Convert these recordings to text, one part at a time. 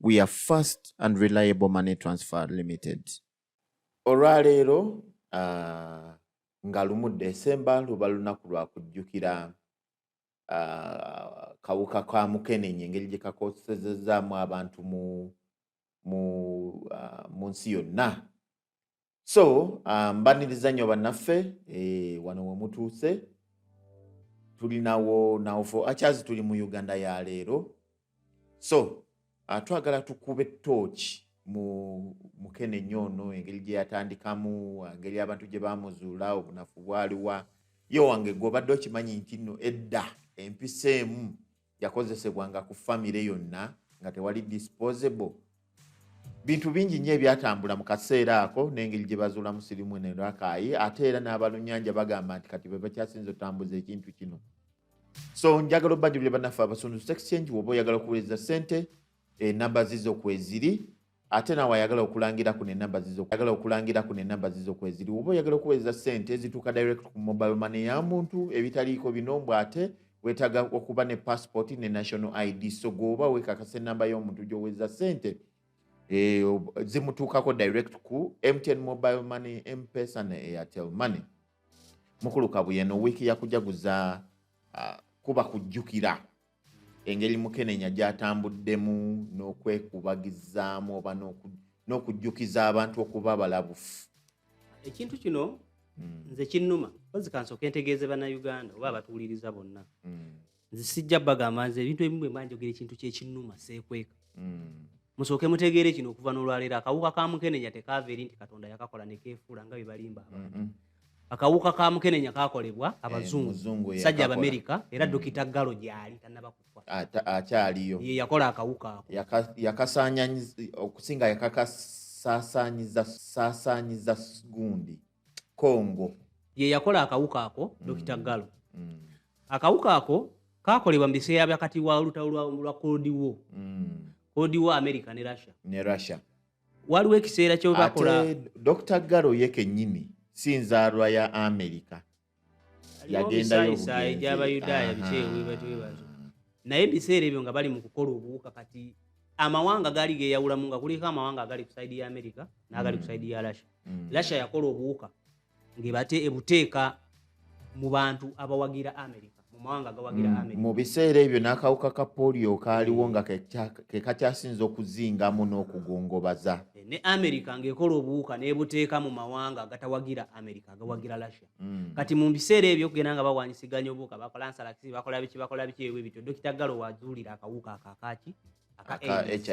we are fast and reliable money transfer limited olwaleero uh, nga lumu desemba luba lunaku lwa kujjukira uh, kawuka ka mukenenye engeri gye kakosezezaamu abantu mu mu, uh, mu nsi yonna so ah, mbaniriza nnyo bannaffe eh, wano wemutuuse tulinawo nawofo akyazi tuli mu uganda ya leero so ah, twagala tukube tooki mu mukene nnyo ono engeri gye yatandikamu engeri abantu gye bamuzuula obunafu bwaliwa yo wange gwe obadde okimanyi nti nno edda empisa emu yakozesebwanga ku famire yonna nga tewali disposable bintu bingi nnyo ebyatambula mu kaseera ako n'engeri gye bazuulamu sirimu ne rakaayi ate era n'abalunyanja bagamba nti kati be bakyasinza otambuza ekintu kino so njagala obajulire banaffe abasunduzi exchange woba oyagala okuweereza ssente enamba eh, zizo kweziri ate naawe ayagala okulangira kuno enamba zizoyagala okulangira kuno enamba zizo kweziri oba oyagala okuweereza ssente ezituuka direct ku mobile money ya muntu ebitaliiko bino mbw ate wetaaga okuba ne passport ne national id so gweoba wekakasa enamba y'omuntu gyoweereza ssente eh, zimutuukako direct ku mtn mobile money mpesa ne airtel money mukulu kabuyeno wiiki yakujaguza ah, kuba kujjukira engeri mukenenya gyatambuddemu n'okwekubagizaamu oba n'okujjukiza abantu okuba balabufu ekintu kino hmm. nze kinnuma ozi kansooka entegeeze bannayuganda oba abatuwuliriza bonna hmm. nze sijja bagamba nze ebintu ebimu bwe mbanjogera ekintu kyekinnuma seekweka hmm. musooke mutegeere kino okuva n'olwaleero akawuka ka mukenenya tekaava eri nti katonda yakakola nekeefuula nga bye balimba abantu akawuka ka mukenenya kakolebwa eh, abazungu sajja abamerika era hmm. dokita galo gyali tanaba kufa akyaliyo ye yakola akawuka ako yakasanya okusinga yakakasasanyiza sasanyiza gundi kongo ye yakola akawuka ako hmm. dokita galo hmm. akawuka ako kakolebwa mu biseera byakati wa olutalo lwa cold war cold war america ne russia ne russia waliwo ekiseera kyebakola dr garo ye kenyini si nzaalwa ya amerika yagendayosayi gyabayudaaya bikyewebatwebazo naye ebiseera ebyo nga bali mu kukola obuwuka kati amawanga gaali geyawulamu nga kuliko amawanga agali ku saidi ya amerika n'agali ku mm. saidi ya russia mm. russia yakola obuwuka ngebate ebuteeka mu bantu abawagira amerika mu mawanga agawagira mm, amerika mu biseera ebyo n'akawuka ka polio kaaliwo nga ke kakyasinza okuzingamu n'okugongobaza eh, ne amerika ng'ekola obuwuka n'ebuteeka mu mawanga agatawagira amerika agawagira russia mm. kati mu biseera ebyo okugenda nga bawanyisiganya obuwuka bakola nsalakisi bakola biki bakola biki ebyo bityo dokita galo wazuulira akawuka akakaki aka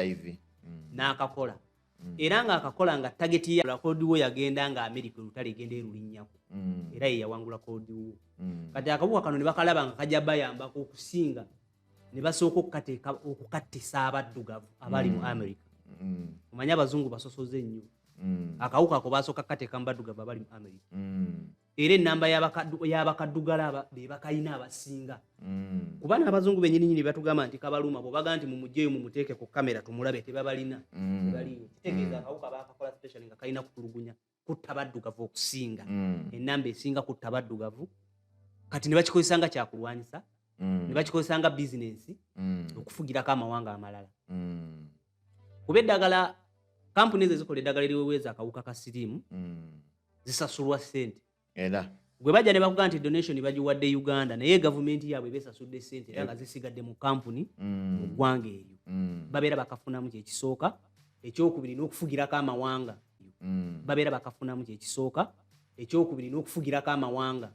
hiv mm. n'akakola mm. era nga akakola nga tageti ya kodi wo yagenda nga amerika olutale egenda erulinyako mm. era ye yawangula kodi wo mm. kati akabuka kano ne bakalaba nga kajja bayambako okusinga ne basooka okukateeka okukattisa abaddugavu abali mu mm. amerika mm. omanye abazungu basosoze nnyo mm. akawuka ako basooka kukateeka mu baddugavu abali mu amerika mm. era enamba yabakaddugala bebakalina abasinga mm. kuba nabazungu benyininyini batugamba nti kabaluma bwebaga nti mumujeyo mumuteeke ku kamera tumulabe tebabalina mm. kitegeeza akawuka mm. bakakola special nga kalina kutulugunya kutta baddugavu okusinga enamba esinga kutta baddugavu kati nebakikozesa nga kyakulwanyisa nebakikozesa nga bizinensi okufugirako amawanga amalala kuba eddagala kampuni ezo ezikola eddagala eriweweeza akawuka ka siriimu zisasulwa sente era gwe bajja ne bakugamba nti donation bagiwadde uganda naye gavumenti yaabwe besasudde sente era nga zisigadde mu kampuni mm. mu ggwanga eryo mm. babeera bakafunamu kyekisooka ekyokubiri n'okufugirako amawanga mm. babeera bakafunamu kyekisooka ekyokubiri n'okufugirako amawanga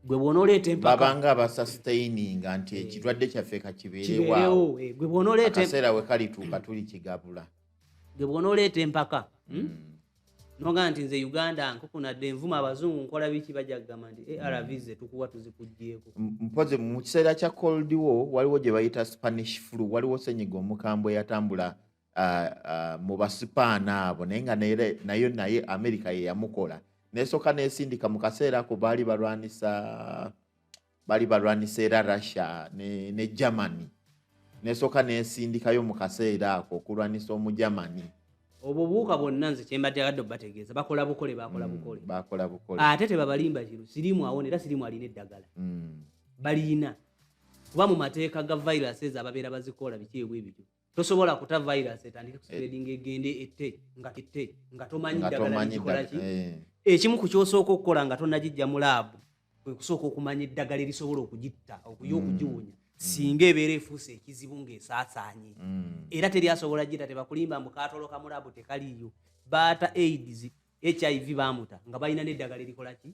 gwe bwonoleeta empakababanga abasastaininga nti eh. ekirwadde kyaffe kakibeerewo eh, gwe bwonoleetaakaseera we kalituuka tuli kigabula gwe bwonoleeta empaka hmm? Hmm. noga nti nze uganda nkukunadde envuma abazungu nkola biki bajja kugamba nti eh, arv ze tukuwa tuzikugyeko mpozi mu kiseera kya cold war waliwo gye bayita spanish flu waliwo senyiga omukambwe yatambula uh, uh, mu basipaana abo naye nga nayo naye amerika yeyamukola nesooka nesindika mu kaseera ako baali balwanisa baali balwanisa era russia ne, ne germany nesooka nesindikayo mu kaseera ako okulwanisa omugermany obubuuka bwonna nze kyembadde agadde obategeeza bakola bukole bakola mm, bukole bakola bukole ate tebabalimba kino sirimu awona era sirimu alina eddagala mm. balina kuba mu mateeka ga viruses ababeera bazikola biki ebwebityo tosobola kuta virus etandike kuspreading eh. egende ette nga ette nga tomanyi ddagala likikola ki eh. ekimu ku kyosooka okukola nga tonagijja mu laabu kwe kusooka okumanya eddagala erisobola okugitta okuya hmm. okugiwunya hmm. singa ebeera efuuse ekizibu ng'esaasaanye hmm. era teri asobola gita tebakulimba mbu kaatoloka mu laabu tekaliiyo baata aids hiv baamuta nga balina n'eddagala erikola ki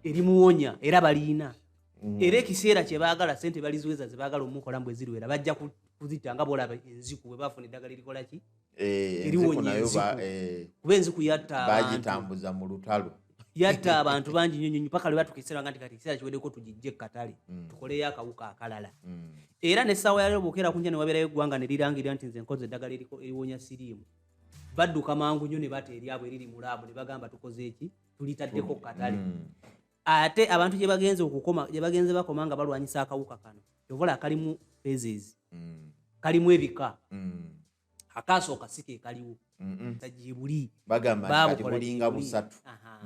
erimuwonya era baliina mm. era ekiseera kye baagala sente baliziweza ze baagala omukola mbu eziruwera bajja kuzita nga boolaba enziku bwe baafuna eddagala erikola ki eh, eriwonya enziku eh, kuba enziku yatta bagitambuza mu lutalo yatta abantu bangi nyo nyonyo paka lwebatuka ekiseera nga nti kati ekiseera kiwedeko tugijje katale mm. tukoleyo akawuka akalala mm. era ne saawa yalero bwokera kunja newabeerayo eggwanga ne lirangirira nti nze nkoze eddagala eriwonya siriimu badduka mangu nnyo ne bata eryabwe eriri mu laabu ne bagamba tukoze eki tulitaddeko ku katale mm. ate abantu gye bagenze okukoma gye bagenze bakoma nga balwanyisa akawuka kano ovola kalimu phases mm. kalimu ebika mm. akaasooka si ke kaliwo tajibuli babulinga busatu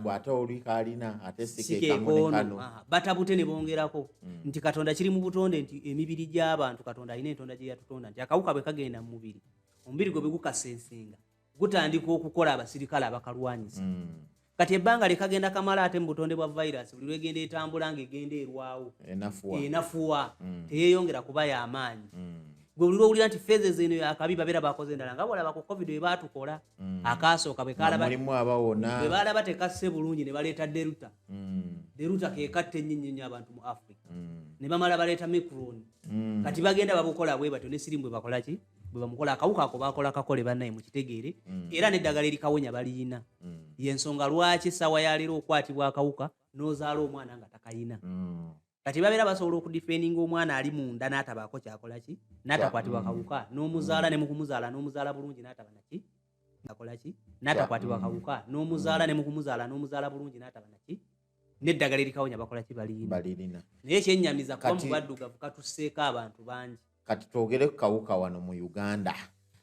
bw'ate oli kalina ate sikekamulekano batabute ne bongerako nti katonda kiri mu butonde nti emibiri gy'abantu katonda alina entonda gye yatutonda nti akawuka bwe kagenda mu mubiri omubiri gwe bwegukasensenga gutandika okukola abasirikale abakalwanyisa mm. kati ebbanga lyekagenda kamala ate mu butonde bwa virus buli lwegenda etambula nga egenda erwawo enafuwa mm. teyeyongera kuba yamaanyi mm. gwe buli lwowulira nti feze zeno yakabi babeera bakoze endala nga bolaba ku covid webatukola mm. akaasooka bwebalaba tekasse bulungi ne baleeta deruta deruta kekatta ennyinyi nnyo abantu mu africa ne bamala baleeta micron kati bagenda babukola bwe batyo ne sirimu bwe bakolaki bwebamukola akawuka ako bakola kakole banaye mukitegeere mm. era neddagala erikawonya baliyina mm. yensonga lwaki esawa yaleero okwatibwa akawuka nozaala omwana nga takayina mm. kati babeera basobola okudifeninga omwana ali munda natabaako kyakolaki natakwatibwa akawuka nomuzaala nemukumuzaala nomuzaala bulungi nataba naki akolaki natakwatibwa akawuka nomuzaala nemukumuzaala nomuzaala bulungi nataba naki neddagala erikawonya bakola ki balirina naye ekyenyamiza kuba mu baddugavu katuseeko abantu bangi kati twogere ku kawuka wano mu uganda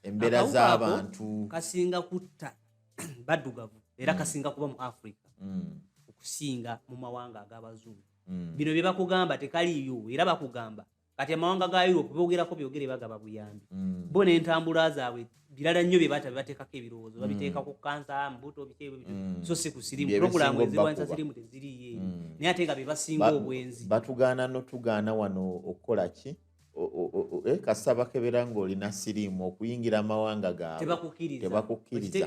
embeera z'abantu kasinga kutta baddugavu era mm. kasinga kuba mu africa mm. okusinga mu mawanga ag'abazungu mm. bino bye bakugamba tekaliyo era bakugamba kati amawanga ga europe bogerako byogere bagaba buyambi mm. bo nentambula zaabwe birala nnyo byebata bebateekako ebirowoozo babiteeka ku kansa mbuto bikebyo mm. so si ku sirimu purogulamu ezirwanyisa sirimu teziriye mm. naye ate nga bebasinga obwenzi batugaana notugaana wano okukola ki eh, kasita bakebera ngaolina sirimu okuyingira amawanga gaabwe tebakukkiriza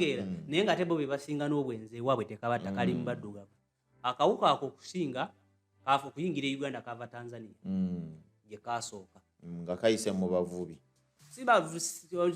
naye nga ate bo bebasinga n'obwenzi ewaabwe tekaba takali mu baddugavu akawuka ako okusinga kaafa okuyingira e uganda kava tanzania mm. gye kasooka mm, nga kayise mu bavubi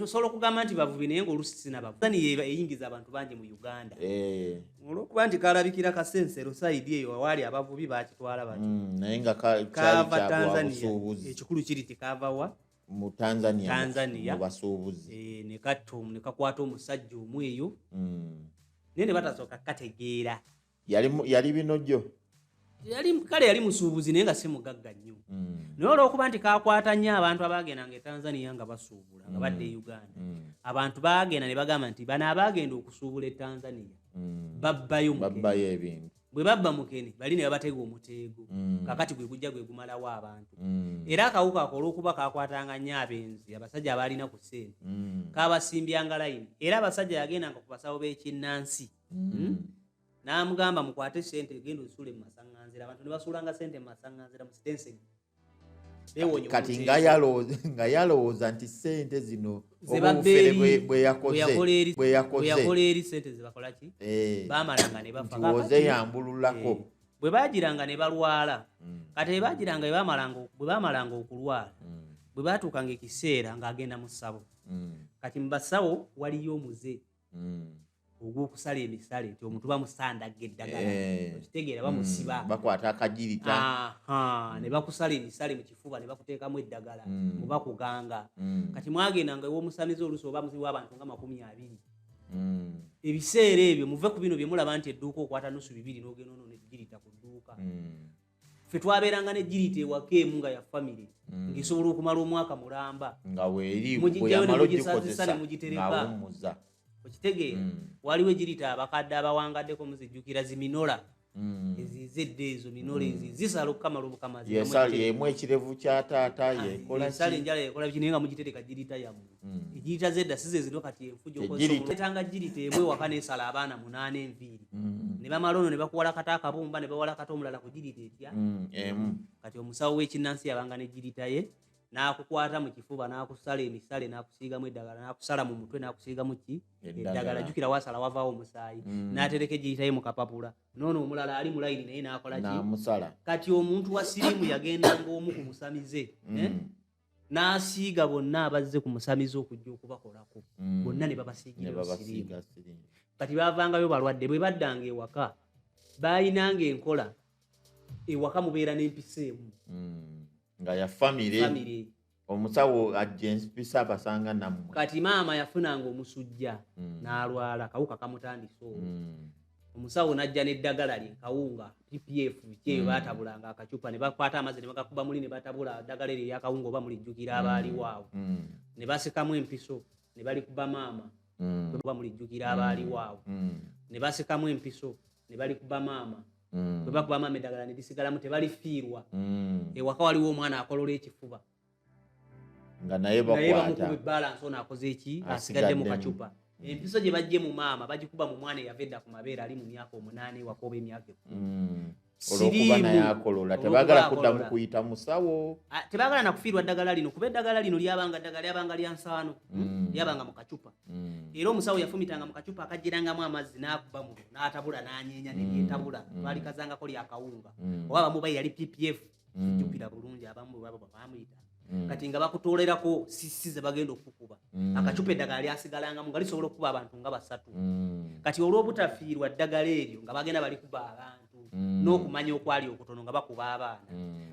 osobola okugamba nti bavubi naye ngaolusi sinabavubianiyo eyingiza abantu bangi mu uganda eh. olwokuba nti kalabikira kasensero saidi eyo waali abavubi bakitwala batnaye mm, nga kava tanzania ekikulu kiri tikavawa mu tanzania tanzania mu basuubuzi eh, ne katto ne kakwata omusajja omu eyo mm. naye ne batasooka kategeera yali yali bino gyo yali kale yali musuubuzi naye nga si mugagga nnyo mm. naye olwokuba nti kakwata nnyo abantu abaagendanga e tanzania nga basuubula nga mm. badde e uganda mm. abantu baagenda ne bagamba nti bano abaagenda okusuubula e tanzania mm. babbayo babbayo ebintu bwe babba mukene bali ne babatega omuteego mm. kakati gwe gujja gwe gumalawo abantu mm. era akawuka ako olw'okuba kakwatanga nnyo abenzi abasajja abaalina ku ssente mm. kabasimbyanga layini era abasajja yagendanga ku basawo b'ekinnansi hmm? n'amugamba mukwate ssente genda ozisuule mu masaŋŋanzira abantu ne basuulanga ssente mu masaŋŋanzira mu sitenseni kati nga yalowooza nti sente zino bweyakozeoze eh. yambululako eh. bwe bagiranga ne balwala hmm. kati ebagiranga bwe bamalanga okulwala hmm. bwe batuukanga ekiseera ng'agenda mu ssabo hmm. kati mu basawo waliyo omuze mm. ogwokusala emisale nti omuntu bamusandaga eddagala eh. okitegeera mm. bamusiba bakwata akagirita ne bakusala emisale mu kifuba ne bakuteekamu eddagala mu bakuganga kati mwagenda nga ewomusamize oluusi oba muzibu abantu nga makumi abiri ebiseera ebyo muve ku bino bye mulaba nti edduuka okwata nusu bibiri n'ogenda ono negirita ku dduuka ffe twabeeranga ne girita ewaka emu nga ya famire mm. ngaesobola okumala omwaka mulamba nga weerimugisazisa ne mugitereka okitegeera mm. waliwo egirita abakadde abawangaddeko muzijjukira ziminola mm. ezize edda ezo minola ezi zisala okukamala obukamaziemu ekirevu kya taata ah, yesala enjala yekola biki naye nga mugitereka girita yammwe hmm. egiyita zedda si zezino kati enfujoetanga girita emu ewaka nesala abaana munaana enviiri hmm. ne bamala ono ne bakuwala kata akabumba ne bawala kata omulala ku girita etya hmm, kati omusawo w'ekinnansi yabanga ne girita ye n'akukwata mu kifuba n'akusala emisale n'akusiigamu eddagala n'akusala mu mutwe n'akusiigamu ki eddagala jukira wasala wavaawo omusaayi mm. n'atereka egiyitaye mu kapapula noono omulala ali mulayini naye n'akola ki kati omuntu wa sirimu yagenda ng'omu ku musamize mm. eh? n'asiiga bonna abazze ku musamize okujja okubakolako mm. bonna ne babasiigira siriimu kati baavangayo balwadde bwe baddanga ewaka baalinanga enkola ewaka mubeera n'empisa emu mm. nga ya famire omusawo ajja empisa abasanga nammwe kati maama yafunanga omusujja mm. n'alwala kawuka kamutandisa olwo omusawo najja neddagala lye kawunga ppf kyeyo mm. batabulanga akacupa nebakwata amazzi nebagakuba muli nebatabula ddagala eryo eryakawunga oba mulijjukira abaaliwo awo mm. nebasikamu empiso nebalikuba maama mm. oba mulijjukira abaaliwo awo nebasikamu empiso nebalikuba maama bwebakuba maama eddagala nedisigalamu tebalifiirwa ewaka waliwo omwana akolola ekifuba nga naye bakwataasigadde mu kacupa empiso gye bajje mu maama bagikuba mu mwana eyava edda ku mabeere ali mu myaka omunaana ewaka oba emyaka ekumi mm. olwokuba naye akolola tebagala kuddamu kuyita musawo tebagala nakufiirwa ddagala lino kuba eddagala lino lyabanga ddagala lyabanga lya nsaano mm. lyabanga mu kacupa mm. era omusawo yafumitanga mu kacupa akajjirangamu amazzi n'akuba muno n'atabula n'anyeenya neryetabula lwalikazangako lyakawunga oba bamubayi yali ppf mm. jjukira bulungi abamu bwebaba bamuyita mm. kati nga bakutolerako sisi ze bagenda okukuba mm. akacupa eddagala lyasigalangamu nga lisobola okukuba abantu nga basatu kati olw'obutafiirwa ddagala eryo nga bagenda balikuba abantu n'okumanya okwali okutono nga bakuba abaana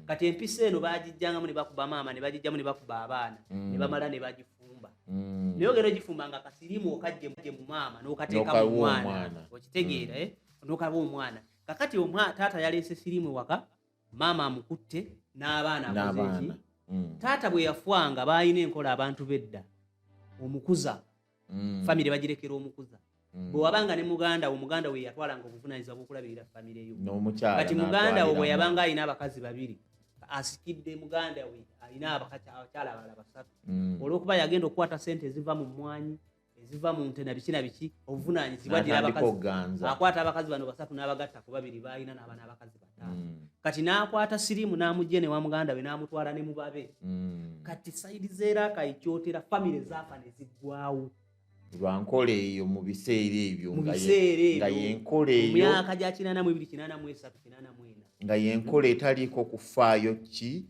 kati empisa eno bagijjangamu ne bakuba maama ne bagijjamu ne bakuba abaana ne bamala ne bagifu Mm. naye ogenda ogifumba nga kasirimu okajje mu maama nokateeka mu mwana okitegeera mm. eh? nokaba omwana kakati taata yaleese sirimu waka maama amukutte n'abaana akozeeki mm. taata bwe yafwanga baalina enkola abantu bedda omukuza mm. famire bagirekera omukuza mm. bwe wabanga ne muganda wo muganda we yatwalanga obuvunanyizibwa bwokulabirira famire yo kati muganda wo bwe yabanga alina abakazi babiri asikidde muganda we alina abakyala abala basatu olwokuba yagenda okukwata sente eziva mu mwanyi eziva mu nte nabiki nabiki obuvunaanyizibwa ddira abakazi akwata abakazi bano basatu n'abagatta ku babiri baalina n'aba n'abakazi bataano mm. kati n'akwata siriimu n'amugye ne wa muganda we n'amutwala ne mubabe mm. kati sayidi zeeraaka ekyotera famire zaafa ne ziggwawo lwankola eyo mu biseera ebyo nga yenkola eyo mu myaka gya kinaana mu ebiri kinaana mu esatu kinaana mu ena nga yenkola etaliiko kufaayo ki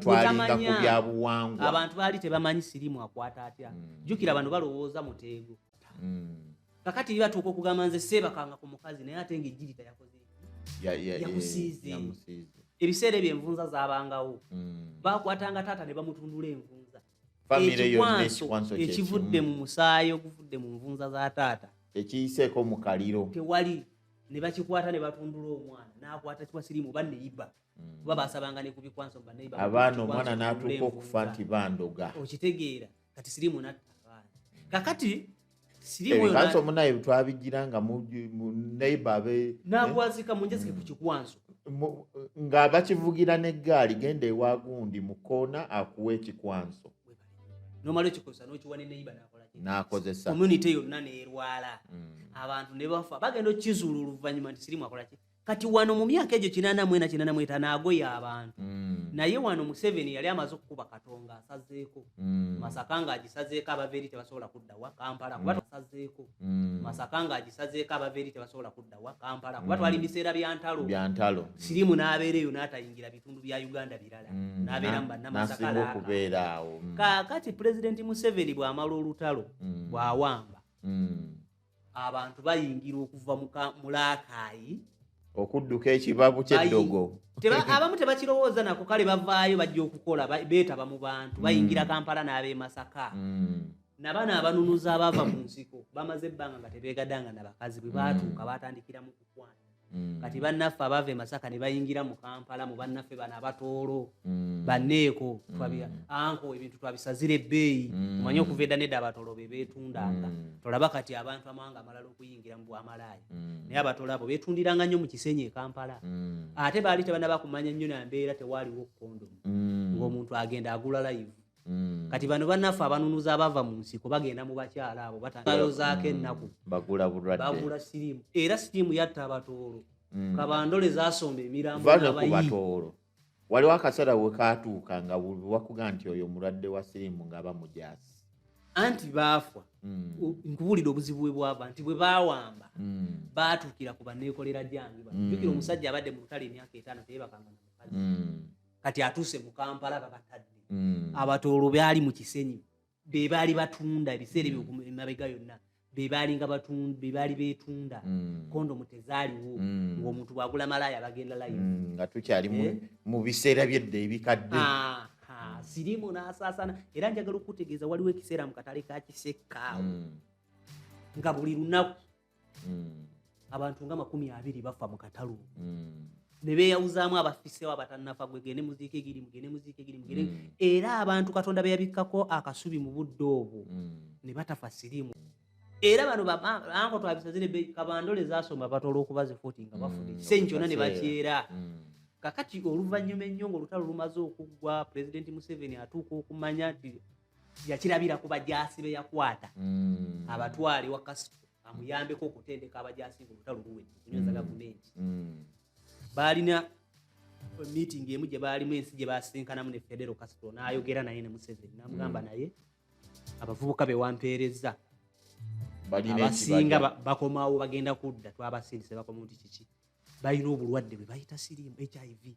twalinga ku byabuwangwa abantu baali tebamanyi sirimu akwata atya mm. jukira bano balowooza muteego mm. kakati mm. batuuka okugamba nze seebakanga ku mukazi naye ate nga ejjiri tayakoze yamusiize ebiseera ebyo envunza zabangawo mm. bakwatanga taata ne bamutundula envunza ekikwanso ekivudde mu musaayi oguvudde mu nvunza za taata tekiyiseeko mu kaliro tewali ne bakikwata ne batundula omwana n'akwata kiwa sirimu oba neyiba mm. kuba basabanga ne kubikwanso baneyiba abaana omwana n'atuuka okufa nti bandoga okitegeera kati sirimu natta abaana kakati sirimukanso eh, munaye twabigira nga neyiba abe eh? nagwazika munjazike ku kikwanso nga bakivugira n'eggaali genda ewa gundi mu koona akuwa ekikwanso nomala ekikoza nokiwa ne neiba nakozesa community yonna nerwala mm. abantu ne bafa bagenda okizula oluvanyuma nti sirimu akolaki kati wano mu myaka egyo kinana mwena kinana mweta nagoya abantu mm. naye wano museveni yali amaze okukuba katonga asazeeko mm. masaka nga agisazeeko abava eri tebasobola kuddawa kampala kuba tasazeeko masaka nga agisazeeko abava eri tebasobola kudda wa kampala kuba twali mm. biseera bya ntalo bya ntalo sirimu n'abeera eyo n'atayingira bitundu bya uganda birala mm. n'abeera mu bannamasakaa okubeera awo mm. kaakati pulezidenti museveni bw'amala olutalo bw'awamba abantu bayingira okuva mu laakaayi okudduka ekibabu ky'eddogo abamu tebakirowooza nako kale bavaayo bajja okukola beetaba mu bantu bayingira kampala n'ab'emasaka nabana abanunuzi abaava mu nsiko bamaze ebbanga nga tebeegadanga na bakazi bwe baatuuka baatandikira mu kukwana Mm. kati bannaffe abava emasaka ne bayingira mu kampala mu bannaffe bano abatoolo mm. banneeko mm. anko ebintu twabisazira ebbeeyi omanye okuva edda nedda abatoolo be beetundanga tolaba kati abantu amawanga amalala okuyingira mu bwamalaaya naye abatoolo abo beetundiranga nnyo mu kisenyi e kampala ate baali tebanaba kumanya nnyo nambeera tewaaliwo kondomu ng'omuntu agenda agula layivu Mm. kati bano banaffe abanunuza abava mu nsiko bagenda mu bakyala abo batayozaako mm. ennaku bagula bulwadde bagula siriimu era siriimu yatta abatoolo mm. kabandole zasomba emirambo batoolo waliwo akaseera we katuuka nga wakuga nti oyo mulwadde wa siriimu nga bamujasi anti baafwa nkubuulira obuzibu bwe bwava nti bwe bawamba baatuukira ku baneekolera gyange jukira omusajja abadde mu lutale emyaka etaano teyebakanga na mukazi kati atuuse mu kampala babatadde mm. abatoolo baali mu kisenyi be baali batunda ebiseera ebyo mm. emabega yonna bebaalinga bebaali betunda mm. kondomu tezaaliwo mm. ngaomuntu bwagula malaaya bagenda layi mm, nga tukyali eh? mu biseera byedda ebikadde ah, ah, sirimu nasaasana era njagala okutegeeza waliwo ekiseera mu katale ka kisekaawo nga buli lunaku mm. abantu nga makumi abiri bafa mu katalu mm. ne beeyawuzaamu abafisewo abatannafa gwe gende muziika egiri mugende muziika egiri mugende mm. era abantu katonda beyabikkako akasubi mu budde obwo mm. ne batafa sirimu era bano anko twabisazire kabandole zasoma batola olwokuba zifuti nga bafuna ekisenyi kyona ne bakyera kakati oluvannyuma ennyo nga olutalo lumaze okuggwa pulezidenti museveni atuuka okumanya nti yakirabira ku bajaasi be yakwata mm. abatwale wa kasito amuyambeko okutendeka abajaasi nga olutalo luwe okunyweza mm. gavumenti mm. baalina meeting emu gye baalimu ensi gye baasinkanamu ne federo kasito n'ayogera naye ne museveni namugamba naye abavubuka be wampeerezza abasinga bakomawo bagenda kudda twabasindise bakoma nti kiki balina obulwadde bwe bayita siriimu hiv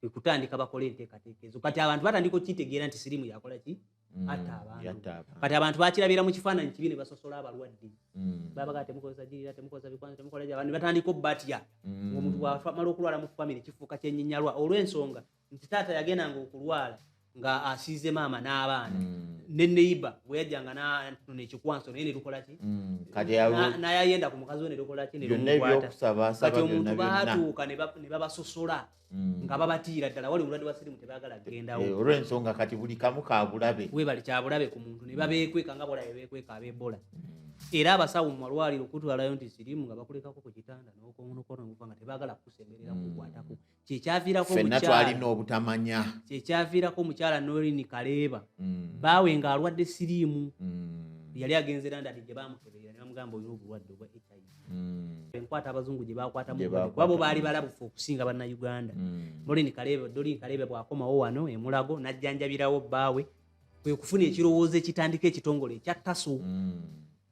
kwekutandika bakola enteekateeka ezo kati abantu batandika okukitegeera nti sirimu yakola ki mm, atta abantu kati abantu bakirabira mu kifaananyi kibi ne basosola abalwadde mm. babaga temukozesa girira temukozesa bikwanza temukola gy abantu batandika obubatya mm. omuntu bwamala okulwala mu famire kifuuka kyenyinyalwa olw'ensonga nti taata yagendanga okulwala nga asiize maama n'abaana mm. ne neiba bwe yajjanga nanona ekikwanso naye netukola ki mm. naye ayenda ku mukazi we netukola ki netukwatati omuntu baatuuka ne babasosola mm. nga babatiira ddala wali obulwadde bwa sirimu tebagala kugendawo eh, olw'ensonga kati buli kamu kabulabe webali kyabulabe ku muntu ne babeekweka nga bolabe beekweka ab'ebola era abasawo mu malwaliro okutwalayo nti sirimu nga bakulekako ku kitanda n'okonokono okuva nga tebagala kukusemberera kukwatako kyekyaviirako fenna twalina obutamanya kyekyaviirako omukyala norini kaleeba mm. baawe nga alwadde siriimu mm. yali agenze landadi gye bamukeberera ne bamugamba olina obulwadde obwa hiv mm. enkwata abazungu gye bakwatamuabo baali balabufu okusinga bannauganda mm. norini kaleeba dorini kaleeba bwakomawo wano emulago najjanjabirawo baawe kwe kufuna ekirowoozo ekitandika ekitongole ekya taso mm.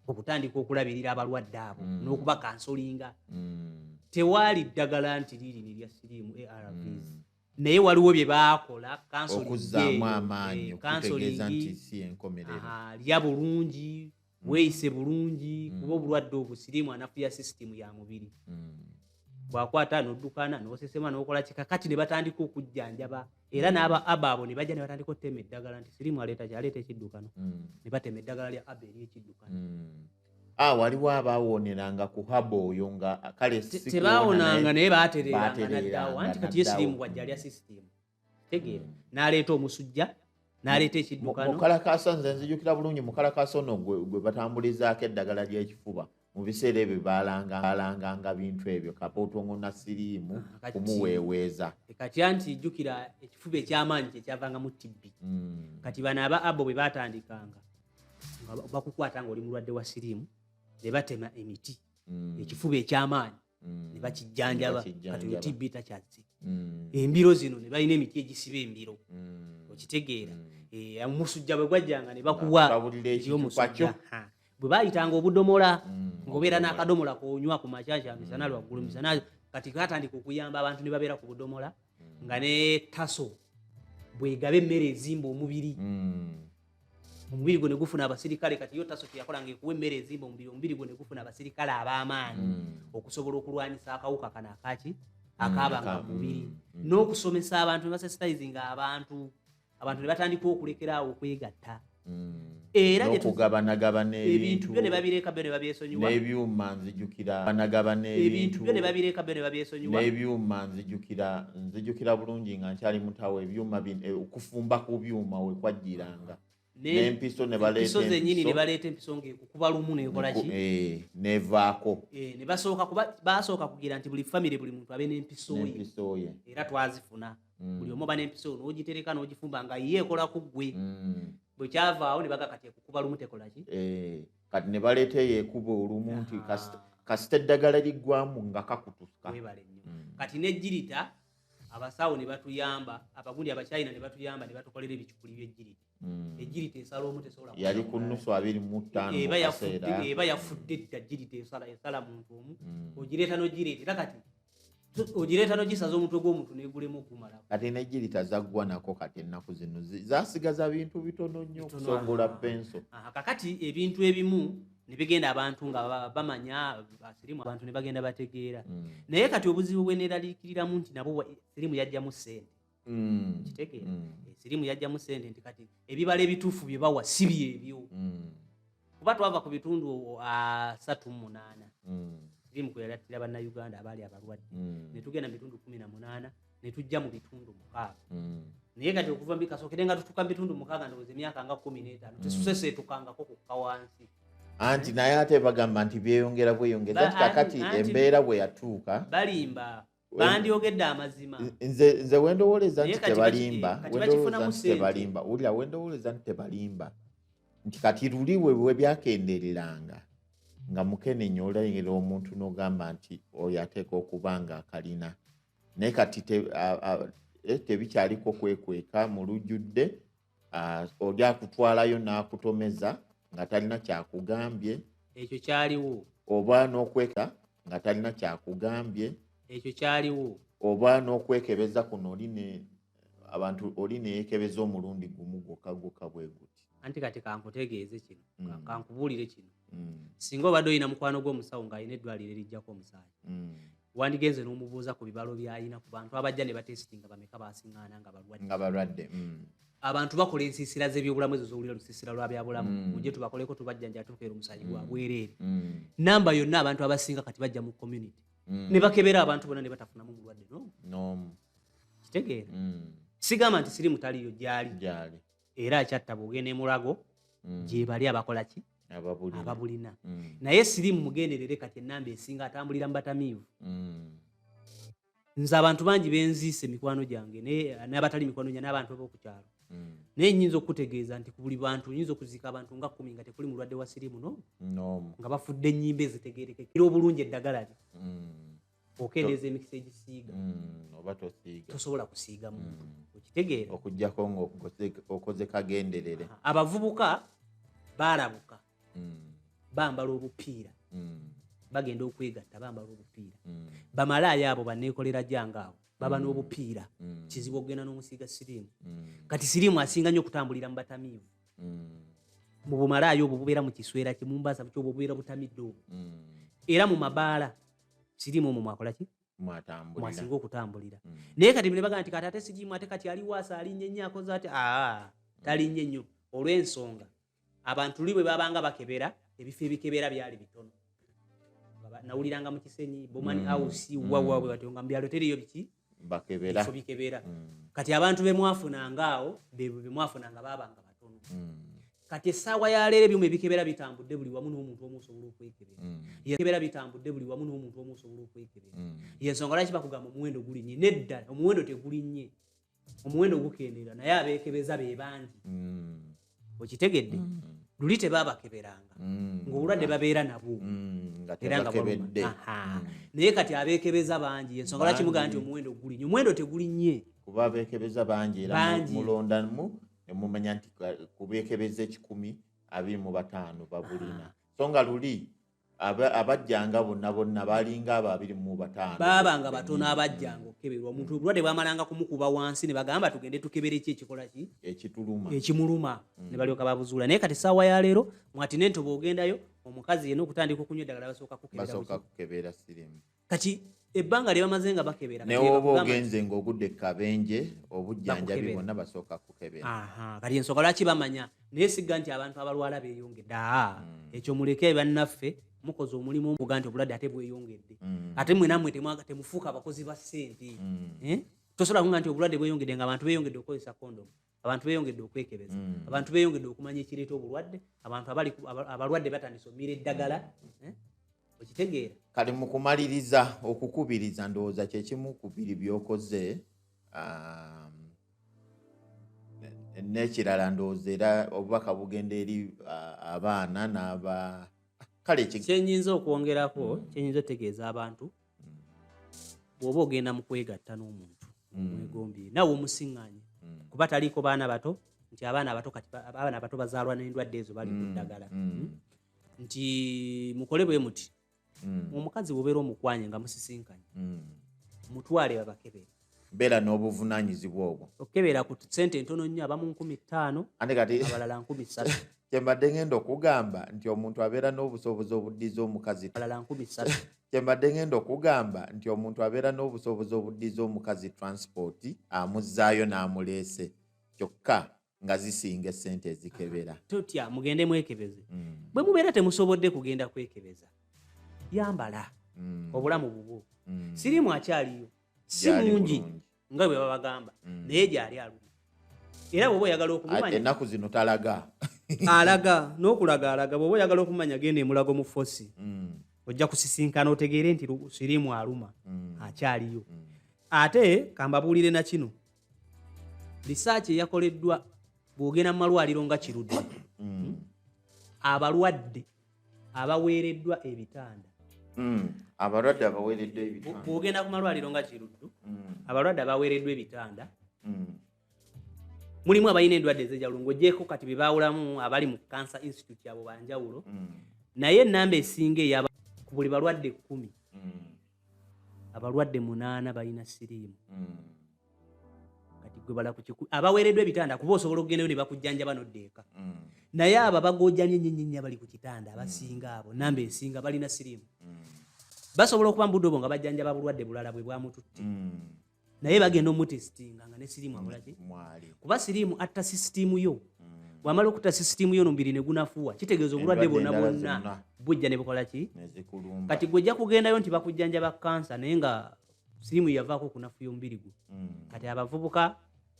okutandika okulabirira abalwadde abo mm. n'okubakansolinga mm. tewaali ddagala nti liiri nerya siriimu arvs mm. naye waliwo bye baakola kansookuzaamu amaanyi eh, okutegeeza nti si enkomerero lya bulungi Mm. weeyise bulungi mm. kuba obulwadde obwo siriimu anafuya sisitimu ya mubiri mm. bwakwata noddukana nosesema nokola kika kati ne batandika okujjanjaba era mm. n'aba aba abo ne bajja ne batandika otema eddagala nti sirimu aleeta kyaleeta ekiddukano mm. ne batema eddagala lya aba eri ekiddukano mm. a ah, waliwo abaawoneranga ku haba oyo nga kale tebaawonanga naye baatereeranga naddaawo anti kati ye sirimu bwajja alya sisitimu tegeera n'aleeta omusujja naleeta ekiddukano mukalakasa nze nzijukira bulungi mukalakasa ono gwe batambulizaako eddagala ly'ekifuba mu biseera ebyo baalangaalanganga bintu ebyo kapootongo na siriimu ah, kumuweeweeza e kati anti jjukira ekifuba ekyamaanyi kyekyavangamu tibbi hmm. kati bano aba abo bwe baatandikanga nga bakukwata nga oli mulwadde wa siriimu ne batema emiti hmm. ekifuba ekyamaanyi mm. nebakijjanjaba kati oyo tibbi takyazze mm. embiro zino ne balina emiti egisiba embiro mm. okitegeera eh, omusujja bwe gwajjanga ne bakuwa omusujja bwe bayitanga obudomola ngaobeera n'akadomola konywa ku makyakya misana lwaggulu misana kati katandika okuyamba abantu ne babeera ku budomola nga ne taso bwegaba emmere ezimba omubiri omubiri gwe negufuna abasirikale kati yo taso kyeyakola nga ekuwa emmere ezimba omubiri omubiri gwe negufuna abasirikale ab'amaanyi hmm. okusobola okulwanyisa akawuka kano akaki hmm, akabanga ku mubiri hmm. n'okusomesa abantu nebasesitizinga abantu abantu ne batandika okulekeraawo okwegatta era okugabanagabana ebintu byo ne babireka byo ne babyesonyiwa n'ebyuma nzijukira banagabana ebintu byo ne babireka byo ne babyesonyiwa n'ebyuma nzijukira nzijukira bulungi nga nkyali mutawo ebyuma eh, okufumba ku byuma wekwajjiranga nempiso nebaleetenyini nebaleeta empiso ngaekukuba lumu nekolaki eh, nevaako eh, nebasooka kuba basooka kugira nti buli famiry buli muntu abe nempisoye era twazifuna mm. buli omu oba nempiso nogitereka nogifumba nga ye ekola ku gwe mm. bwekyavaawo nebaga kati ekukuba lumu tekolaki kati ne baleeta eyo ekuba olumu nti kasita eddagala liggwamu nga kakutuka mm. kati nejjirita abasawo ne batuyamba abagundi abakyayina ne batuyamba ne batukolera ebicupuli byejjirita mm. ejjirita esala omu tesobola yali ku nnusu abiri mu ttaano eba yafudde edda jjirita esala muntu omu mm. ogireeta nogireeta era kati ogireeta nogisaza omutwe gw'omuntu negulemu okumala kati negirita zaggwa nako kati ennaku zino zasigaza bintu bitono nnyo okusongola penso kakati ebintu ebimu nebigenda abantu nga bamanya sirimu abantu nebagenda bategeera hmm. naye kati obuzibu bweneraliikiriramu nti nabo sirimu yajjamu sente mm. kitegeera mm. esirimu yajjamu sente nti kati ebibala ebituufu bye bawa si byebyo mm. kuba twava ku bitundu asatu mu munaana mm. sirimu kwe yalattira bannayuganda abaali abalwadde mm. ne tugenda mu bitundu kumi na munaana ne tujja mu bitundu mukaaga mm. naye kati okuva mbikasokere nga tutuka mu bitundu mukaaga ndowooza emyaka nga kumi n'etaano mm. tesuseseetukangako kukka wansi anti naye ate bagamba nti byeyongera bweyongera nti kakati embeera bwe yatuuka balimba bandyogedde amazima nze wendowoleza nti tebalimba wendowoleza nti tebalimba wulira wendowoleza nti tebalimba nti kati luli wewe byakendereranga nga mukenenya olengera omuntu nogamba nti oyo ateeka okuba nga akalina naye kati eh, tebikyaliko kwekweka mu lujjudde Ah, oja kutwalayo n'akutomeza nga talina kyakugambye ekyo kyaliwo oba n'okweka nga talina kyakugambye ekyo kyaliwo oba n'okwekebeza kuno oli ne abantu oli neyekebeza omulundi gumu gwokka gwokka bwe guti anti kati kankutegeeze kino mm. kankubuulire kino mm. singa obadde olina mukwano gw'omusawo ng'alina eddwaliro erijjako omusaayi mm. wandigenze n'omubuuza ku bibalo byalina ku bantu abajja ne batesitinga bameka basiŋaana nga balwaddnga balwadde mm. abantu bakola ensiisira z'ebyobulamu ezo zowulira lusiisira lwa byabulamu mm. mujje tubakoleko tubajjanja atukeera omusayi gwa mm. bwereere namba yonna abantu abasinga kati bajja mu community ne bakebera abantu bona ne batafunamu mulwadde nomu kitegeera sigamba nti sirimu taliyo gyali era akyatta buge ne mulago mm. gyebali abakola ki ababulina mm. naye sirimu mugenderere kati enamba esinga atambulira mubatamiivu mm. nze abantu bangi benziisa emikwano gyange nabatali mikwano gya n'abantu abokukyalo mm. naye nyinza okukutegeeza nti ku buli bantu nyinza okuziika abantu nga kumi nga tekuli mulwadde wa sirimu no nga bafudde ennyimba ezitegerekekera obulungi eddagala lye mm. okendeeza emikisa egisiiga mm, oba tosiiga tosobola kusiiga muntu mm. okitegeera okujjako ngaokoze kagenderere abavubuka baalabuka mm. bambala obupiira bagenda okwegatta bambala obupiira bamalaaya abo baneekolera jange abo baba n'obupiira kizibu okugenda n'omusiiga siriimu kati siriimu asinga nnyo okutambulira mu batamiivu mu bumalaaya obwo bubeera mu kiswera kimumbasa kyoba obubeera butamidde obwo era mu mabaala sirimu omwo mwakolaki mwasinga okutambulira mm. naye kati nebaga nti kati ate sirimu ate kati ali waasa alinye nnyo akoze ati aa talinye nnyo olw'ensonga abantu li bwe babanga bakebera ebifo ebikebera byali bitono nawuliranga mu kisenyi bomani mm. house mm. wawa bwe batyo nga mu byalo teriyo biki bakebera bifo bikebera mm. kati abantu bemwafunanga awo bebo bemwafunanga babanga batono mm. kati essaawa ya leero ebyuma ebikebera bitambudde buli wamu n'omuntu omu osobola okwekebera mm. yekebera bitambudde buli wamu n'omuntu omu osobola okwekebera mm. yensonga lwaki bakugamba omuwendo gulinnye nedda omuwendo tegulinnye omuwendo gukendeera naye abeekebeza be bangi mm. okitegedde mm. luli tebabakeberanga mm. ngaobulwadde babeera nabwo mm, naye kati abekebeza bangi ensonga lwaki mugamba nti omuwendo guli nyo omuwendo tegulinnye kuba abekebeza bangi era mulondamu nemumanya nti kubekebeza ekikumi abiri mu bataano babulina so nga luli abajjanga bonna bonna balinga abo abiri mu bataano baabanga batono abajjanga okukeberwa omuntu obulwadde bwamalanga kumukuba wansi ne bagamba tugende tukebere ki ekikola ki ekituluma ekimuluma mm. ne balyoka babuzuula naye kati saawa ya leero mwatine ntoba ogendayo omukazi yena okutandika okunywa eddagala basooka kukebera sirimu kati ebbanga lyebamaze nga bakebera newoba ogenze ngaogudde kabenje obujjanjabi bonna basooka kukebera kati ensonga lwaki bamanya naye sigga nti abantu abalwala beyongedde aa hmm. ekyo muleke bannaffe mukoze omulimu omuga nti obulwadde ate bweyongedde hmm. ate mwenamwe temufuuka abakozi ba ssente hmm. eh? tosobola kunga nti obulwadde bweyongedde nga abantu beyongedde okukozesa kondomu abantu beyongedde okwekebeza mm. abantu beyongedde okumanya ekireeta obulwadde abantu abalwadde batandise omira eddagala mm. eh? okitegeera kati mukumaliriza okukubiriza ndowooza kyekimu ku biri byokoze um, nekirala ndowooza era obubaka bugenda eri uh, abaana n'aba kale kyenyinza okwongerako mm. kyenyinza otegeeza abantu bwoba ogenda mu kwegatta n'omuntu mm. mwegombye nawe omusiŋŋanye mm. kuba taliiko baana bato nti abaana abato kati abaana abato bazaalwa n'endwadde ezo bali ku mm. ddagala hmm? nti mukole bwe muti omukazi bwobeera omukwanye nga musisinkanye mutwale babakebere beera n'obuvunanyizibwa obwo okukebera ku sente ntono nnyo abamu nkumi ttaano ate kati abalala nkumi ssatu kyembadde ngenda okugamba nti omuntu abeera n'obusobozi obuddiza omukazi abalala nkumi ssatu kyembadde ngenda okugamba nti omuntu abeera n'obusobozi obuddiza omukazi transport amuzzaayo n'amuleese kyokka nga zisinga esente ezikebera totya mugende mwekebeze mm. bwe mubeera temusobodde kugenda kwekebeza yambala mm. obulamu bubwo mm. sirimu akyaliyo si mungi nga bwe babagamba mm. naye gyali aluma era bwoba oyagala okumumanya ennaku zino talaga alaga n'okulaga alaga bwoba oyagala okumanya genda emulago mu fosi mm. ojja kusisinkana otegeere nti sirimu aluma mm. akyaliyo mm. ate kambabuulire na kino risaaki eyakoleddwa bw'ogenda mu malwaliro nga kirudde mm. abalwadde abaweereddwa ebitanda mm. abalwadde abaweereddwa ebitanda bw'ogenda ku malwaliro nga kiruddu mm. abalwadde abaweereddwa ebitanda mulimu abalina endwadde ezejalulo ng'ogyeko kati be baawulamu abali mu cancer institute abo banjawulo naye enamba esinga eyaba ku buli balwadde ekkumi abalwadde munaana balina siriimu hmm. kati gwe bala kukiku abaweereddwa ebitanda kuba osobola okugendayo ne bakujjanjaba nodda eka hmm. naye abo abagojamye nyenyenye abali ku kitanda abasinga abo namba esinga balina siriimu basobola okuba mubudde obwo nga bajjanjaba bulwadde bulala bwe bwamututte naye bagenda omutesitinga nga ne siriimu abulaki kuba siriimu atta sisitiimu yo mm. bwamala okutta sisitiimu yo nomubiri negunafuwa kitegeeza obulwadde bwonna bwonna bujja ne bukola ki kati gwe ojja kugendayo nti bakujjanja ba kansa naye nga siriimu yavaako okunafuya omubiri gwo mm. kati abavubuka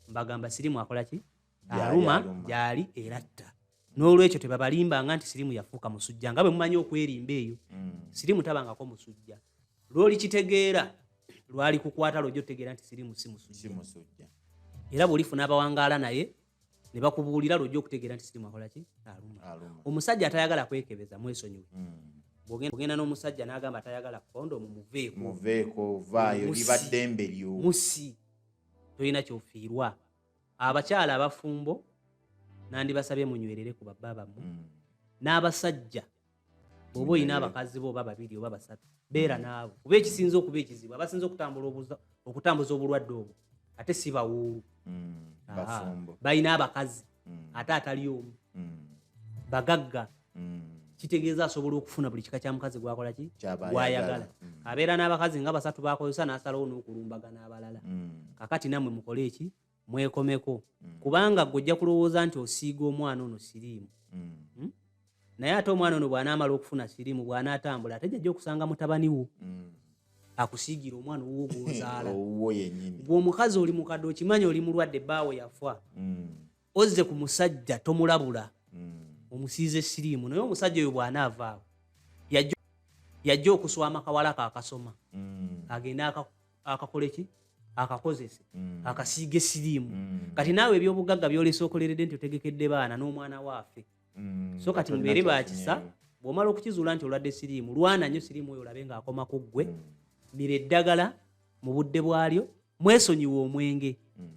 mbagamba siriimu akola ki aluma gyali era atta n'olwekyo tebabalimbanga nti sirimu yafuuka musujja nga bwe mumanyi okwerimba eyo mm. sirimu tabangako musujja lwolikitegeera lwali kukwata lwoja otegeera nti sirimu si musujja era bwolifuna abawangaala naye ne bakubuulira lwoja okutegeera nti sirimu akolaki aluma omusajja atayagala kwekebeza mwesonyiwe mm. ogenda n'omusajja n'agamba atayagala kondomu muveekomuveeko vaayo libaddembe lyo musi tolina kyofiirwa abakyala abafumbo nandibasabye munywerere ku babba bammwe mm. n'abasajja oba olina abakazi bo oba babiri oba basatu beera naabo kuba ekisinza okuba ekizibu abasinza okutambula okutambuza obulwadde obwo ate si bawuulu mm, balina abakazi mm. ate atali omu bagagga mm. kitegeeza asobola okufuna buli kika kya mukazi gwakola ki gwayagala mm. abeera n'abakazi nga basatu bakozesa n'asalawo n'okulumbagana abalala mm. kakati namwe mukole eki mwekomeko mm. kubanga gwe ojja kulowooza nti osiiga omwana ono siriimu mm. hmm? naye ate omwana ono bw'anaamala okufuna siriimu bw'anaatambula ate jajja okusanga mutabani wo mm. akusiigira omwana owuwo gw'ozaala gw'omukazi oli mukadde okimanyi oli mulwadde bbaawo yafa mm. ozze ku musajja tomulabula mm. omusiize siriimu naye omusajja oyo bw'anaavaawo yajja okuswama kawala kakasoma mm. agende akakole ki akakozese mm. akasiige siriimu mm. kati naawe ebyobugagga byolesa okoleredde nti otegekedde baana n'omwana waafe mm. so kati mubeere bakisa bw'omala okukizuula nti olwadde siriimu lwana nnyo siriimu oyo olabe ng'akoma ku ggwe mm. mira eddagala mu budde bwalyo mwesonyiwe omwenge mm.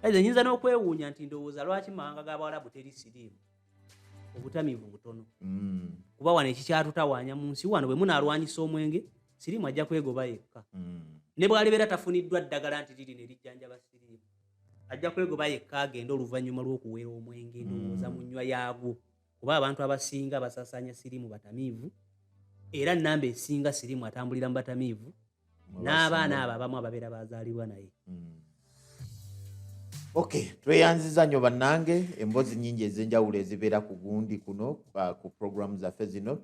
Kale nyinza n'okwewuunya nti ndowooza lwaki mawanga g'Abawalabu teri siriimu obutamiivu butono mm. kuba wano ekikyatutawaanya mu nsi wano bwe munaalwanyisa omwenge siriimu ajja kwegoba yekka mm. ne bw'alibeera tafuniddwa ddagala nti liri ne lijjanjaba siriimu ajja kwegoba yekka agenda oluvannyuma lw'okuwera omwenge ndowooza mm. mu nnywa yaagwo kuba abantu abasinga basasaanya sirimu batamiivu era namba esinga sirimu atambulira mu batamiivu n'abaana abo abamu ababeera bazaalibwa naye hmm. ok tweyanziza nnyo bannange emboozi nyingi ez'enjawulo ezibeera ku gundi kuno ku programu zaffe zino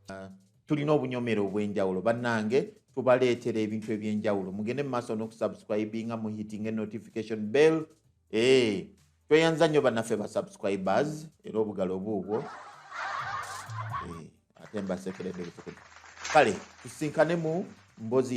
Ah, tulina obunyomero obwenjawulo bannange tubaleetera ebintu ebyenjawulo mugende mu maaso n'okusubscribinga mu hitting notification bell eh, tweyanza nnyo bannaffe ba subscribers era obugalo obuubwo eh, ate mbasekeredde butukudu kale tusinkane mu mbozi